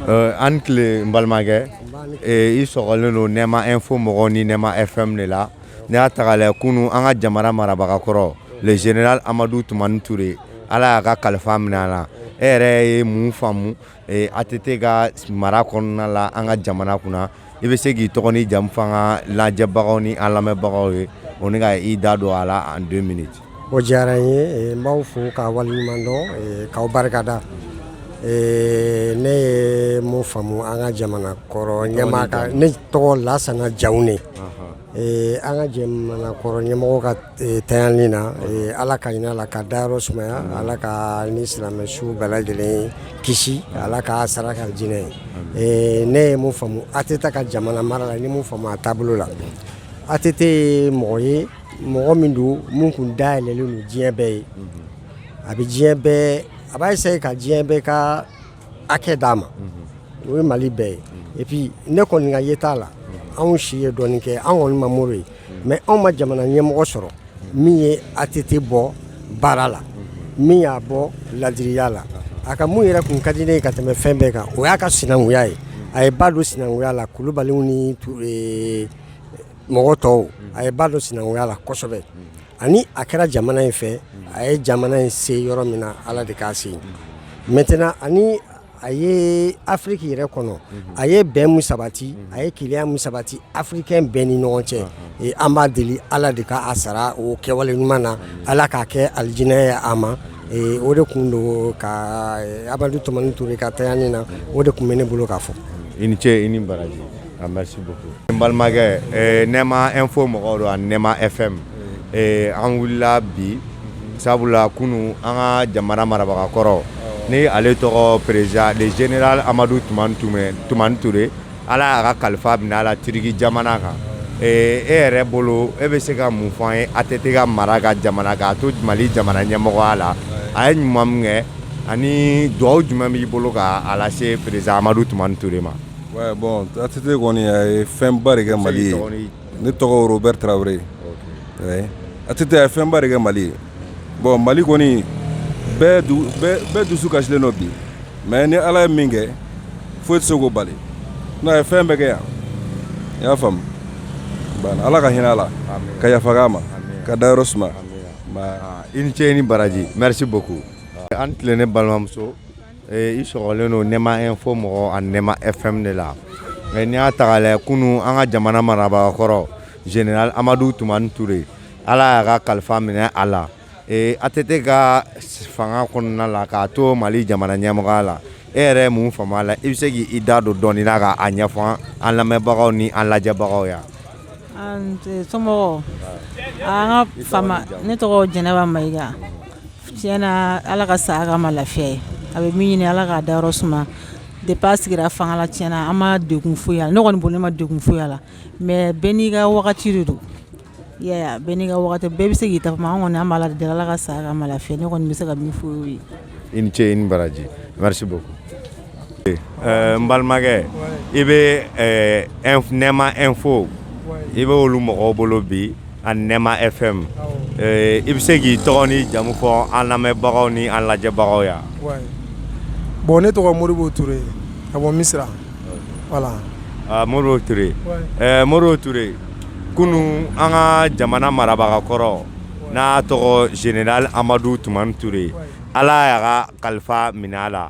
Euh, aw ni tile n balimakɛ eh, i sɔgɔlen don nɛma info mɔgɔw ni nɛma fm de la n'i y'a ta k'a lajɛ kunu an ka jamana marabaga kɔrɔ le général amadu tumani ture ala y'a ka kalifa minɛ a la e yɛrɛ ye mun faamu ATT ka mara kɔnɔna la an ka jamana kunna i bɛ se k'i tɔgɔ ni jamu f'an ka lajɛbagaw ni an lamɛnbagaw ye o ni ka i da don a la en deux minutes o diyara n ye n b'aw fo k'aw waleɲumandɔn k'aw barikada ne ye mun faamu an ka jamana kɔrɔ ɲɛmaa ne tɔgɔ Lasana Jawune Ee an ka jamana kɔrɔ ɲɛmɔgɔ ka tayani na ala ka hinɛ a la k'a dayɔrɔ sumaya ala k'a ni silamɛ su bɛɛ lajɛlen kisi ala k'a sara kɛ alijinɛ ye ne ye mun faamu ATT ka jamana mara la n ye mun faamu a taabolo la ATT ye mɔgɔ ye mɔgɔ min don min kun da yɛlɛlen don diɲɛ bɛɛ ye a bɛ diɲɛ bɛɛ a b'a essayer ka diɲɛ bɛɛ ka hakɛ d'a ma o ye mali bɛɛ ye et puis ne kɔni ka yeta la anw si ye dɔɔnin kɛ anw kɔni ma Modibo ye mais anw ma jamana ɲɛmɔgɔ sɔrɔ min ye ATT bɔ baara la min y'a bɔ laadiriya la a ka mun yɛrɛ kun ka di ne ye ka tɛmɛ fɛn bɛɛ kan o y'a ka sinankunya ye a ye ba don sinankunya la kulubaliw ni mɔgɔ tɔw a ye ba don sinankunya la kosɛbɛ ani a kɛra jamana in fɛ a ye jamana in se yɔrɔ min na ala de k'a se maintenant ani a ye afiriki yɛrɛ kɔnɔ a ye bɛn min sabati a ye kelenya min sabati afirikɛn bɛɛ ni ɲɔgɔn cɛ ee an b'a deli ala de k'a sara o kɛwale ɲuman na ala k'a kɛ alijinɛ ye a ma o de kun don ka amadu tumani ture ka tayani na o de kun bɛ ne bolo k'a fɔ i ni ce i ni baraji Ah, merci beaucoup. N balimakɛ eh, Nɛma info mɔgɔw don ani Nɛma FM eh, an wulila bi sabula kunu an ka jamana marabaga kɔrɔ ni ale tɔgɔ président le général Amadu Tumani Ture Ala y'a ka kalifa minɛ a la Turiki jamana kan eh, e yɛrɛ bolo e bɛ se ka mun fɔ an ye ATT ka mara ka jamana k'a to Mali jamana ɲɛmɔgɔya la a ye ɲuman min kɛ ani dugawu jumɛn b'i bolo ka a lase président Amadu Tumani Ture ma. Bɔn ATT kɔni a ye fɛnba de kɛ Mali ye, i tɔgɔ ni jamu, ne tɔgɔ Robɛri Tarawele, ok, ATT a ye fɛnba de kɛ Mali ye, bon Mali kɔni bɛɛ dusu kasilen don bi mais ni Ala ye min kɛ foyi tɛ se k'o bali sinon a ye fɛn bɛɛ kɛ yan i y'a faamu, Ala ka hinɛ a la ka yafa k'a ma k'a dayɔrɔ suma, i ni ce i ni baraji merci beaucoup aw ni tile ne balimamuso I sɔgɔlen don nɛma info mɔgɔ ani nɛma FM de la mais n'i y'a ta k'a lajɛ kunun an ka jamana marabaa kɔrɔ général amadu tumani ture ala y'a ka kalifa minɛ a la ATT ka fanga kɔnɔna la k'a to mali jamana ɲɛmɔgɔya la e yɛrɛ ye mun faamu a la i bɛ se k'i da don dɔɔnin na k'a ɲɛfɔ an lamɛnbagaw ni an lajɛbagaw ye so ne tɔgɔ jɛnɛba mayi Tiɲɛ na ala ka saya k'a ma lafiya ye a bɛ min ɲini ala k'a da yɔrɔ suma depuis a sigira fanga la tiɲɛna an ma degun foyi la ne kɔni bolo ne ma degun foyi la mais bɛɛ n'i ka wagati de don bɛɛ n'i ka bɛɛ bɛ se k'i ta f'a ma an kɔni an b'ala deli ala ka saya k'a ma lafiya ne kɔni bɛ se ka min fɔ o ye i ni ce i ni baraji N balimakɛ i bɛ nɛma info i bɛ olu mɔgɔw bolo bi ani nɛma FM i bɛ se k'i tɔgɔ ni jamu fɔ an lamɛnbagaw ni an lajɛbagaw ye bon ne tɔgɔ modibo ture ka bɔ misira voilà modibo ture modibo ture kunun an ka jamana marabaga kɔrɔ n'a tɔgɔ général amadu tumani ture ala y'a ka kalifa minɛ a la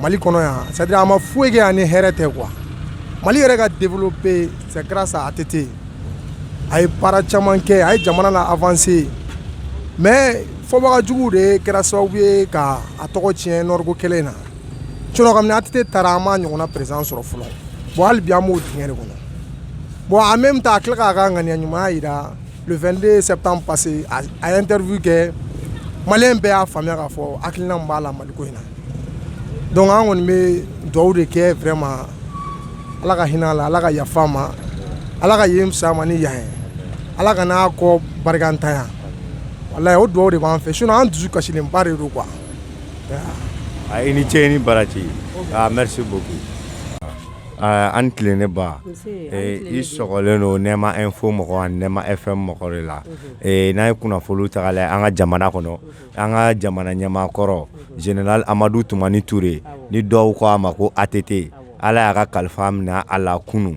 mali kɔnɔ yan c'est-à-dire a ma foyi kɛ yan ni hɛrɛ tɛ quoi mali yɛrɛ ka développer c'est grâce à ATT a ye baara caman kɛ a ye jamana na avancer mais fɔbaga jugu de kɛra sababu ye ka a tɔgɔ tiɲɛ nɔriko kɛlɛ in na sinon kabini ATT taara an ma ɲɔgɔnna président sɔrɔ fɔlɔ bon hali bi an b'o dingɛ de kɔnɔ bon en même temps a tila k'a ka ŋaniya ɲumanya yira Le 22 septembre passé a ye interview kɛ maliyɛn bɛɛ y'a faamuya k'a fɔ hakilina min b'a la mali ko in na donc an kɔni bɛ dugawu de kɛ vraiment ala ka hinɛ a la ala ka yafa a ma ala ka yen fisaya a ma ni yan ye ala kan'a kɔ barikantanya voilà o dugawu de b'an fɛ sinon an dusu kasilenba de don quoi i ni ce ni baraji merci beaucoup An tilen ne ba i sɔgɔlen don nɛma info mɔgɔ ani nɛma FM mɔgɔ de la n'an ye kunnafoni ta k'a lajɛ an ka jamana kɔnɔ an ka jamana ɲɛmaa kɔrɔ général amadu tumani ture ni dɔw ko a ma ko ATT ala y'a ka kalifa minɛ a la kunun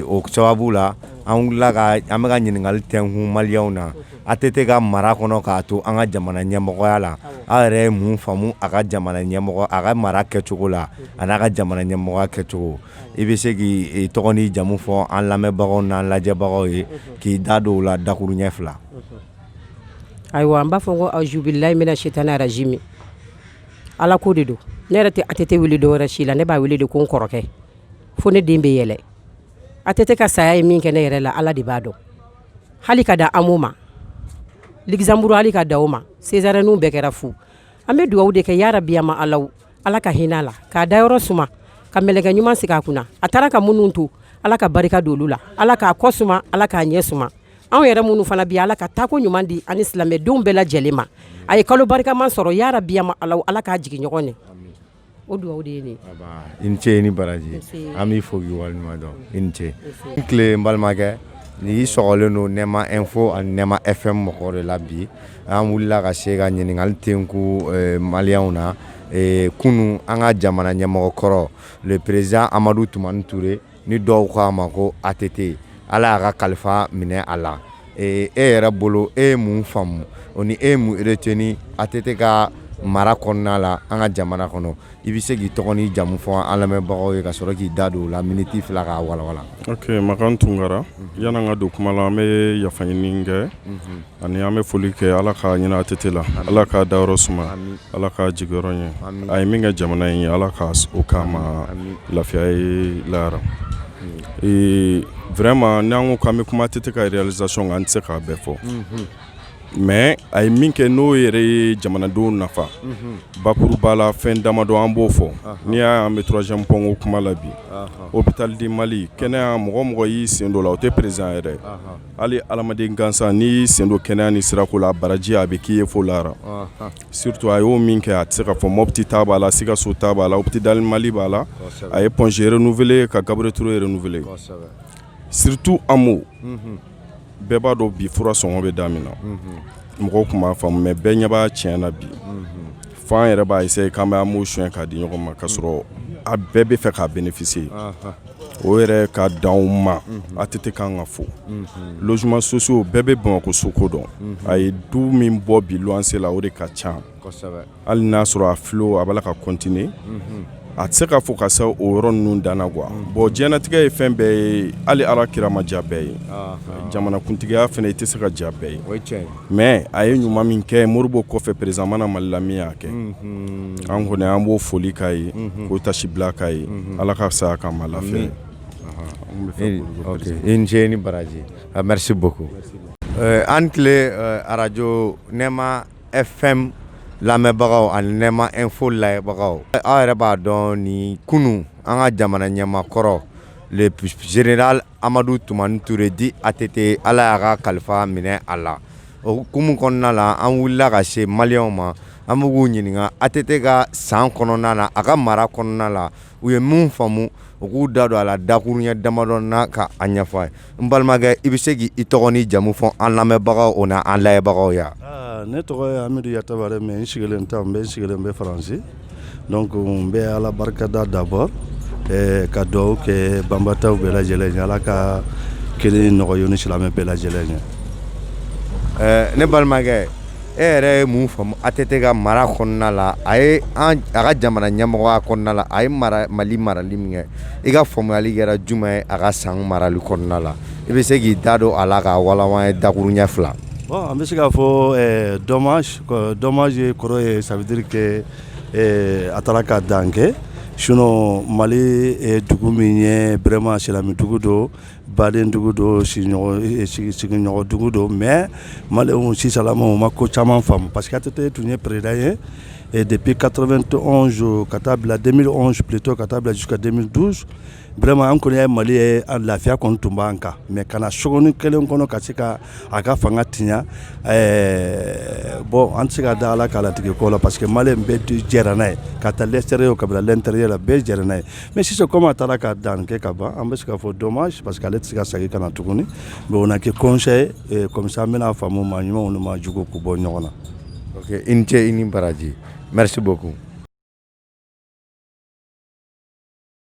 o sababu la an an bɛ ka ɲininkali tɛkun maliyɛnw na ATT ka mara kɔnɔ k'a to an ka jamana ɲɛmɔgɔya la aw yɛrɛ ye mun faamu a ka jamana ɲɛmɔgɔ a ka mara kɛcogo la a n'a ka jamana ɲɛmɔgɔya kɛcogo i bɛ se k'i tɔgɔ n'i jamu fɔ an lamɛnbagaw n'an lajɛbagaw ye k'i da don o la dakuruɲɛ fila ayiwa an b'a fɔ ko auzubillahi mina shaitani rajimi ala ko de don ne yɛrɛ tɛ ATT wele tɔgɔ wɛrɛ si la ne b'a wele de ko n kɔrɔkɛ fo ne den bɛ yɛlɛ ATT ka saya ye min kɛ ne yɛrɛ la ala de b'a dɔn hali ka da AMO ma Luxembourg hali ka da ma césarienne bɛɛ kɛra fu an bɛ dugawu de kɛ ya rabi ma ala ala ka hinɛ a la k'a dayɔrɔ suma ka mɛlɛkɛ ɲuman sigi a kunna a taara ka minnu to ala ka barika don olu la ala k'a kɔ suma ala k'a ɲɛ suma anw yɛrɛ minnu fana bi ala ka taako ɲuman di ani silamɛdenw bɛɛ lajɛlen ma a ye kalo barikama sɔrɔ ya rabi ma ala ala k'a jigin ɲɔgɔn ye o dugawu de ye nin ye i ni ce i ni baraji nse an b'i fo k'i waleɲumandɔn i ni ce n tile n balimakɛ ni y'i sɔrɔlen don nɛma info ani nɛma fm mɔgɔw de la bi an wulila ka se ka ɲininkali tenku eh, maliyɛnw na eh, kunun an ka jamana ɲɛmɔgɔ kɔrɔ le président amadu tumani ture ni dɔw ko a ma ko ATT Ala y'a ka kalifa minɛ a la e yɛrɛ bolo e ye mun faamu o ni e ye mun retenir ATT ka mara kɔnɔna la an ka jamana kɔnɔ i bɛ se k'i tɔgɔ n'i jamu fɔ an lamɛnbagaw ye ka sɔrɔ k'i da don o la miniti fila k'a walawala ok Makan Tunkara yani an ka don kuma la an bɛ yafa ɲini kɛ. Ani an bɛ foli kɛ ala ka hinɛ ATT la ala k'a dayɔrɔ suma ala k'a jigiyɔrɔ ɲɛ a ye min kɛ jamana in ye ala ka o k'a ma lafiya ye lahara ee vraiment n'an ko an bɛ kuma ATT ka réalisation kan an tɛ se k'a bɛɛ fɔ mais a ye min kɛ n'o yɛrɛ ye jamanadenw nafa bakuruba la fɛn damadɔ an b'o fɔ n'i y'a an bɛ troisième pɔnko kuma la bi hôpital du mali kɛnɛya mɔgɔ mɔgɔ y'i sen don o la o tɛ président yɛrɛ hali adamaden gansan n'i y'i sen don kɛnɛya ni sirako la baraji a bɛ k'i ye fo lahara surtout a y'o min kɛ a tɛ se ka fɔ mɔpti ta b'a la sikaso ta b'a la hôpital mali b'a la a ye Point G renouveler ka Gabriel Toure renouveler surtout AMO bɛɛ b'a dɔn bi fura sɔngɔ bɛ da min na mɔgɔw tun m'a faamu mais bɛɛ ɲɛ b'a tiɲɛ na bi fo an yɛrɛ b'a essayer k'an bɛ AMO suɲɛ k'a di ɲɔgɔn ma k'a sɔrɔ a bɛɛ b'a fɛ k'a bénéficier o yɛrɛ ka dan o ma ATT ka kan ka fo logement sociaux bɛɛ bɛ bamakɔ soko dɔn a ye du min bɔ bi luwanse la o de ka ca hali n y'a sɔrɔ a filo a b'a la ka continuer a tɛ se ka fɔ ka se o yɔrɔ ninnu danna quoi bon diɲɛnatigɛ ye fɛn bɛɛ ye hali ala kira ma diya bɛɛ ye jamanakuntigiya fana i tɛ se ka diya bɛɛ ye mais a ye ɲuman min kɛ modibo kɔfɛ président ma na mali la min y'a kɛ an kɔni an b'o foli k'a ye k'o tasi bila k'a ye ala ka saya k'a ma lafiya i ni ce ni baraji merci beaucoup an tile arajo nɛma FM lamɛnbagaw ani nɛma info lajɛbagaw aw yɛrɛ b'a dɔn ni kunun an ka jamana ɲɛmaa kɔrɔ le général amadu tumani toure dit ATT ala y'a ka kalifa minɛ a la o hukumu kɔnɔna la an wulila ka se maliyɛnw ma an bɛ k'u ɲininka ATT ka san kɔnɔna na a ka mara kɔnɔna la u ye min faamu u k'u da don a la dakuruɲɛ damadɔ na ka a ɲɛfɔ an ye n balimakɛ i bɛ se k' i tɔgɔ ni jamu fɔ an lamɛnbagaw o na an lajɛbagaw ye ne tɔgɔ ye amidu yatabare mais n sigilen tɛ n bɛ sigilen bɛ faransi Donc n bɛ Ala barikada d'abord ɛɛ ka duwawu kɛ banbaatɔw bɛɛ lajɛlen ye Ala ka kelen in nɔgɔya u ni silamɛ bɛɛ lajɛlen ye ɛɛ ne balimakɛ e yɛrɛ ye mun faamu ATT ka mara kɔnɔna la a ye an a ka jamana ɲɛmɔgɔya kɔnɔna la a ye mara Mali marali min kɛ i ka faamuyali kɛra jumɛn ye a ka san marali kɔnɔna la i bɛ se k'i da don a la k'a walanwalan an ye dakuruɲɛ fila bon an bɛ se k'a fɔ ɛɛ dommage Dɔmaz kɔrɔ ye sabadiri kɛ a taara ka dan kɛ sun mali dugu min ye bɛrɛma silamɛmɛdugu don badendugu don sigiɲɔgɔndugu don mɛ mali sisanlama ma ko caman faamu pa que tɛ tun ye pered ye dep katɔ bɛ toz ka taa bila denmisɛn suleto ka taa bila su ka denmisɛn duuru Vraiment an kɔni ye mali ye a lafiya kɔni tun b'an kan mais ka na na sogonin kelen kɔnɔ ka se ka a ka fanga tiɲɛ bon an tɛ se ka da ala ka latigɛ ko la parce que mali bɛɛ jɛra n'a ye ka ta l'extérieur ka bila l'intérieur la bɛɛ jɛra n'a ye mais sisan comme a taara ka dan kɛ ka ban an bɛ se ka fɔ dommage parce que ale tɛ se ka segin ka na tuguni n'a kɛ conseil ye comme ça an bɛna a faamu maa ɲuman maa jugu k'u bɔ ɲɔgɔn na i ni ce i ni baraji merci beaucoup